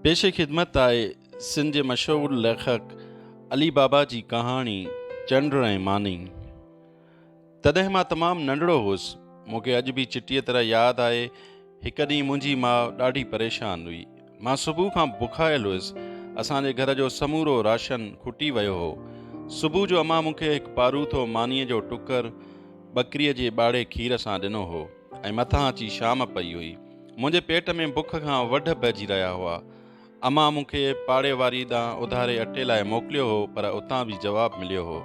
پيش خدمت آهي سنڌ جي مشهور ليکڪ علي بابا جي ڪهاڻي چنڊ ۽ ماني تڏهن مان تمام ننڍڙو هوس مون کي اڄ به چٽيء طرح ياد آهي هڪ ڏينهن منهنجي ماء ڏاڍي پريشان هئي مان صبح کان بکايل هوس اسان جي گهر جو سمورو راشن کٽي ويو هو صبح جو امان مون کي هڪ پاروٿو مانيء جو ٽڪر ٻڪريء جي ٻاڙي کير سان ڏنو هو ۽ مٿان اچي شام پئي هئي. منهنجي پيٽ ۾ بک کان وڍ پئجي رهيا هئا. امان مون کي پاڙي واري ڏانهن اڌاري اٽي لاء موڪليو هو پر اتان به جواب مليو هو.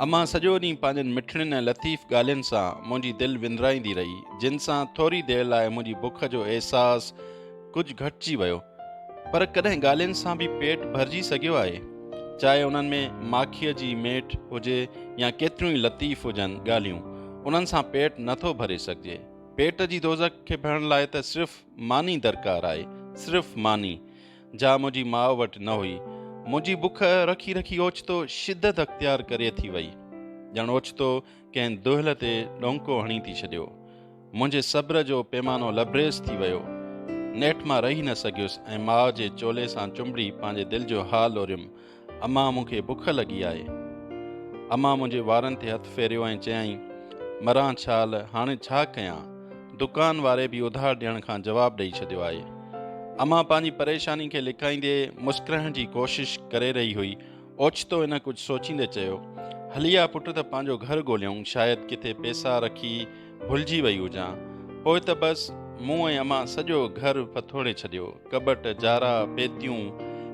امان سڄو ڏينهن پنهنجين مٺڙين ۽ لطيف ڳالهين سان منهنجي دل وندرائيندي رهي جن سان ٿوري دير لاء منهنجي بک جو احساس ڪجهه گهٽجي ويو پر ڪڏهن ڳالهين سان به پيٽ ڀرجي سگهيو آهي؟ چاهي انهن ۾ ماکيء جي ميٺ هجي يا ڪيتريون ئي لطيف هجن ڳالهيون، انهن سان پيٽ نه ٿو ڀري سگهجي. پيٽ جي دوزخ کي ڀرڻ لاء ته صرف ماني درڪار آهي، صرف ماني، جا منهنجي ماء وٽ نه هئي. منهنجي بک رکي رکي اوچتو شدت اختيار ڪري ٿي وئي. ڄڻ اوچتو ڪنهن دهل تي ڏونڪو هڻي ٿي ڇڏيو. منهنجي صبر جو پيمانو لبريز ٿي ويو. نيٺ مان رهي نه سگهيس ۽ ماء جي چولي سان چنبڙي پنهنجي دل جو حال لوريم، امان مون کي بک لڳي آهي. امان منهنجي وارن تي هٿ ڦيريو ۽ چيائين، مران ڇال، هاڻي ڇا ڪيان؟ دڪان واري به اڌار ڏيڻ کان جواب ڏئي ڇڏيو آهي. امان پنهنجي پريشاني کي لڪائيندي مسڪرائڻ جي ڪوشش ڪري رهي هئي. اوچتو هن ڪجهه سوچيندي چيو، هلي آ پٽ ته پنهنجو گهر ڳوليون، شايد ڪٿي پيسا رکي ڀلجي وئي هجان. پوء ته بس، مون ۽ امان سڄو گهر ڦٿوڙي ڇڏيو. ڪٻٽ، جارا، پيتيون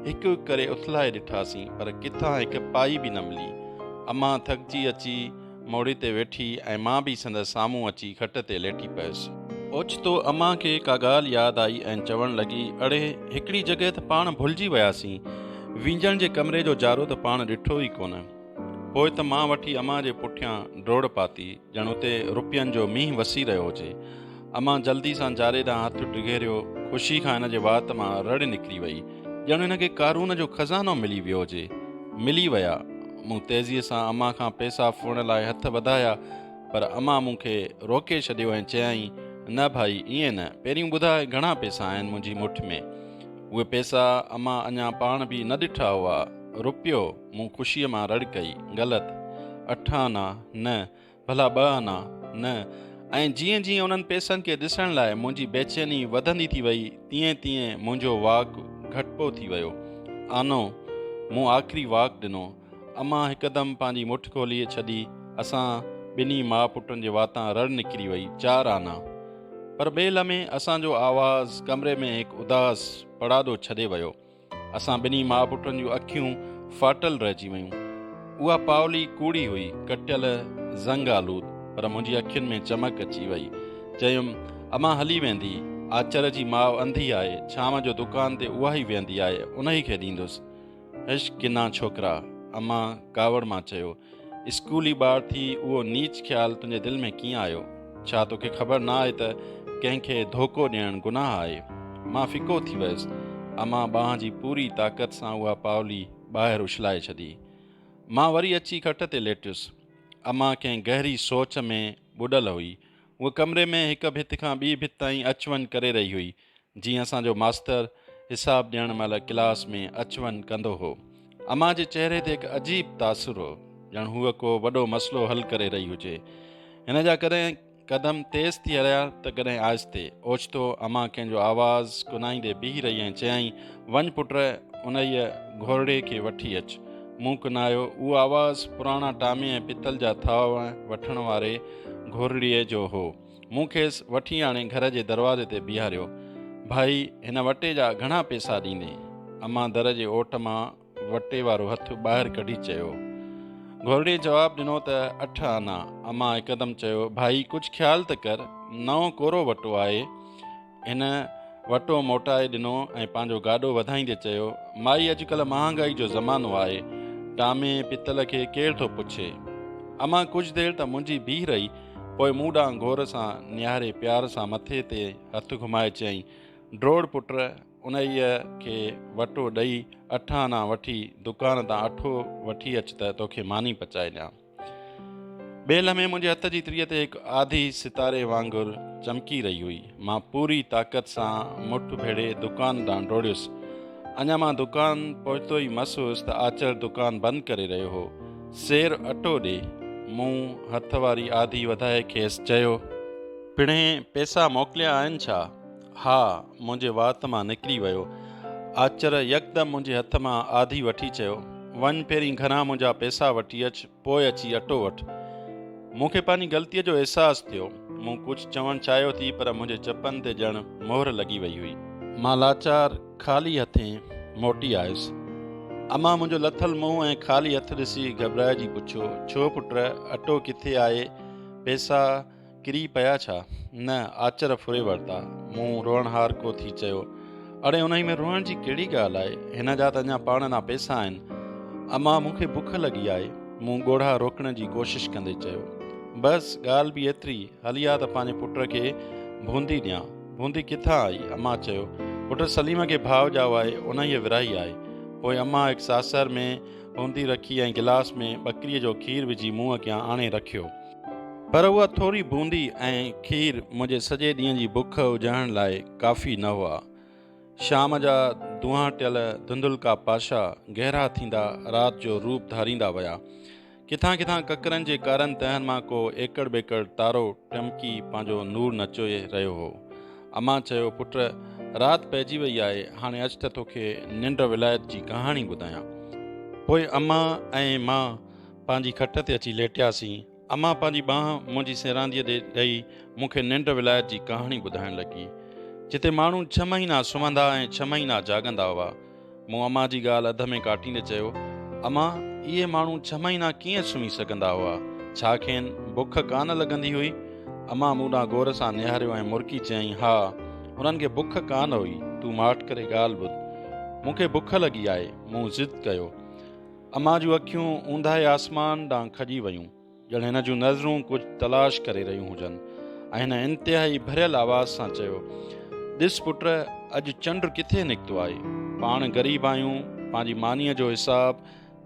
هڪ هڪ ڪري اٿلائي ڏٺاسين، پر ڪٿان هڪ پائي به نه ملي. امان ٿڪجي اچي. موڙي تي ويٺي ۽ مان به سندس سامهون اچي کٽ تي ليٽي پيس. اوچتو امان کي ڪا ڳالهه ياد آئي ۽ چوڻ لڳي، اڙي، هڪڙي جڳهه ته پاڻ ڀلجي وياسين. وينجڻ جي ڪمري جو جارو ته پاڻ ڏٺو ئي ڪونه. پوء ته مان وٺي امان جي پٺيان ڊوڙ پاتي، ڄڻ اتي روپين جو مينهن وسي رهيو هجي. امان جلدي سان جاري ڏانهن هٿ ڊگهيريو، خوشي کان هن جي وات مان رڙ نڪري وئي، ڄڻ هن کي قارون جو خزانو ملي ويو هجي. ملي ويا. مون تيزيء سان امان کان پئسا ڦوهڻ لاء هٿ وڌايا، پر امان مون کي روڪي ڇڏيو ۽ چيائين، نه ڀائي، ائين نه، پهريون ٻڌاء گهڻا پئسا آهن منهنجي مٺ ۾. اهي پئسا امان اڃا پاڻ به نه ڏٺا هئا. روپيو! مون خوشيء مان رڙ ڪئي. غلط. اٺ آنا. نه. ڀلا ٻه آنا نه؟ ۽ جيئن جيئن انهن پئسن کي ڏسڻ لاء منهنجي بيچيني وڌندي ٿي وئي تيئن تيئن منهنجو واڪ گهٽبو ٿي ويو. آنو، مون آخري واڪ ڏنو. امان هڪدم پنهنجي مٺ کولي ڇڏي. اسان ٻنهي ماء پٽن جي واتان رڙ نڪري وئي، چار آنا! پر ٻئي لمحي اسان جو آواز ڪمري ۾ هڪ اداس پڙاڏو ڇڏي ويو. اسان ٻنهي ماء پٽن جون اکيون ڦاٽل رهجي ويون. اها پاولي ڪوڙي هئي، ڪٽيل، زنگ آلود، پر منهنجي اکين ۾ چمڪ اچي وئي. چيم، امان هلي ويندي. آچر جي ماء انڌي آهي، ڇانو جو دڪان تي اها ئي ويهندي آهي، انهي کي ڏيندس. هش، ڪنا ڇوڪرا. امان ڪاوڙ مان چيو. اسڪولي ٻار ٿي اهو نيچ خيال تنهنجي دل ۾ ڪيئن آيو؟ ڇا توکي خبر نه آهي ته ڪنهن کي ڌوڪو ڏيڻ گناهه آهي؟ مان ڦڪو ٿي ويس. امان ٻانهن جي پوري طاقت سان اها پاولي ٻاهر اڇلائي ڇڏي. مان وري اچي کٽ تي ليٽيس. امان ڪنهن گهري سوچ ۾ ٻڏل هئي. هوء ڪمري ۾ هڪ ڀت کان ٻي ڀت تائين اچ وڃ ڪري رهي هئي. جيئن اسان جو ماستر حساب ڏيڻ مهل ڪلاس ۾ اچ وڃ ڪندو هو. امان جي چهري تي هڪ عجيب تاثر هو، ڄڻ هوء ڪو وڏو مسئلو حل ڪري رهي هجي. هن جا ڪڏهن قدم تيز ٿي هليا ته ڪڏهن آهستي. اوچتو امان ڪنهن جو آواز ڪنائيندي بيهي رهي ۽ چيائين، وڃ پٽ انهيء گهورڙي کي وٺي اچ. مون ڪنايو. اهو آواز پراڻا ٽامي ۽ پتل جا ٿاهه وٺڻ واري گهورڙيء جو هو. مون کيس وٺي آڻي گهر جي دروازي تي بيهاريو. ڀائي، هن وٽي جا گهڻا پيسا ڏيندين؟ امان در جي اوٽ مان وٽي وارو هٿ ٻاهر ڪڍي چيو. گهورڙيء جواب ڏنو ته اٺ آنا. امان هڪدم چيو، ڀائي، ڪجهه خيال ته ڪر. نئون ڪورو وٽو آهي. هن وٽو موٽائي ڏنو ۽ پنهنجو گاڏو وڌائيندي چيو، مائي اڄڪلهه مهانگائي جو زمانو آهي، ٽامي پتل کي ڪير ٿو پڇي. امان ڪجهه دير ته منجهي بيهي رهي، پوء مون ڏانهن غور سان نهاري پيار سان مٿي تي هٿ گهمائي چيائين، ڊوڙ پٽ انهيء کي وٽو ڏئي اٺ آنا وٺي دڪان تان اٺو وٺي اچ ته توکي ماني پچائي ڏيان. ٻئي لمحي منهنجي هٿ جي تريء تي هڪ آڌي ستاري وانگر چمڪي رهي هئي. مان پوري طاقت سان مٺ ڀيڙي دڪان ڏانهن ڊوڙيس. اڃا مان دڪان پهتو ئي مس هيس ته آچر دڪان بند ڪري رهيو هو. سير اٽو ڏي. مون هٿ واري آڌي وڌائي کيس چيو. پڻهين پئسا موڪليا آهن ڇا؟ ها، منهنجي وات مان نڪري ويو. آچر يڪدم منهنجي هٿ مان آڌي وٺي چيو، وڃ پهرين گهران منهنجا پئسا وٺي اچ، پوء اچي اٽو وٺ. مون کي پنهنجي غلطيء جو احساس ٿيو. مون ڪجهه چوڻ چاهيو ٿي پر منهنجي چپن تي ڄڻ مهر لڳي وئي هئي. مان لاچار خالي هٿين موٽي آيس. امان منهنجو لٿل منهن ۽ خالي هٿ ڏسي گهٻرائجي پڇيو، ڇو پٽ، اٽو ڪٿي آهي، پئسا؟ ڪري پيا ڇا؟ نه، آچر ڦري ورتا. مون روئڻهار ڪو ٿي چيو. اڙي انهي ۾ روئڻ جي ڪهڙي ڳالهه آهي؟ هن جا ته اڃا پاڻ ڏانهن پئسا آهن. امان مون کي بک لڳي آهي. مون ڳوڙها روڪڻ جي ڪوشش ڪندي چيو. بس ڳالهه به ايتري، هلي آ ته پنهنجي پٽ کي ڀوندي ڏيان. ڀوندي ڪٿان آئي؟ امان چيو. پٽ سليم کي ڀاء ڄائو آهي، انهيء ورهائي آهي. پوء امان هڪ ساسر ۾ ڀوندي رکي ۽ گلاس ۾ ٻڪريء جو کير وجهي مون اڳيان آڻي رکيو. پر اها ٿوري بوندي ۽ کير منهنجي سڄي ڏينهن جي بک اجهائڻ لاء ڪافي نه هئا. شام جا دونهان ٽيل ڌنڌلڪا پاشا گهرا ٿيندا رات جو روپ ڌاريندا ويا. ڪٿان ڪٿان ڪڪرن جي ڪارن تهن مان ڪو ايڪڙ ٻيڪڙ تارو ٽمڪي پنهنجو نور نچوئي رهيو هو. امان چيو، پٽ! رات پئجي وئي آهي، هاڻي اچ ته توکي ننڊ ولايت جي ڪهاڻي ٻڌايان. پوء امان ۽ مان پنهنجي کٽ تي اچي ليٽياسين. امان پنهنجي ٻانهن منهنجي سيرانديء ڏي ڏئي مون کي ننڊ ولايت جي ڪهاڻي ٻڌائڻ لڳي، جتي ماڻهو ڇهه مهينا سمهندا ۽ ڇهه مهينا جاڳندا هئا. مون امان جي ڳالهه اڌ ۾ ڪاٽيندي چيو، امان، اهي ماڻهو ڇهه مهينا ڪيئن سمهي سگهندا هئا؟ ڇا کين بک ڪانه لڳندي هئي؟ امان مون ڏانهن غور سان نهاريو ۽ مرڪي چيائين، ها، انهن کي بک ڪانه هئي. تون ماٺ ڪري ڳالهه ٻڌ. مون کي بک لڳي آهي. مون ضد ڪيو. امان جون اکيون اونداهي آسمان ڏانهن کڄي ويون ڄڻ هن جون نظرون ڪجهه تلاش ڪري رهيون هجن ۽ هن انتهائي ڀريل آواز سان چيو ڏس پٽ اڄ چنڊ ڪٿي نڪتو آهي پاڻ غريب آهيون پنهنجي مانيء جو حساب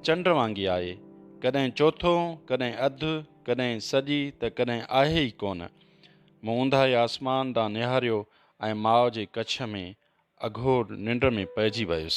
چنڊ وانگي آهي ڪڏهن چوٿو ڪڏهن اڌ ڪڏهن سڄي ته ڪڏهن آهي ئي ڪونه مون اونداهي آسمان ڏانهن نهاريو ۽ ماء جي ڪڇ ۾ اگهور ننڊ ۾ پئجي ويس.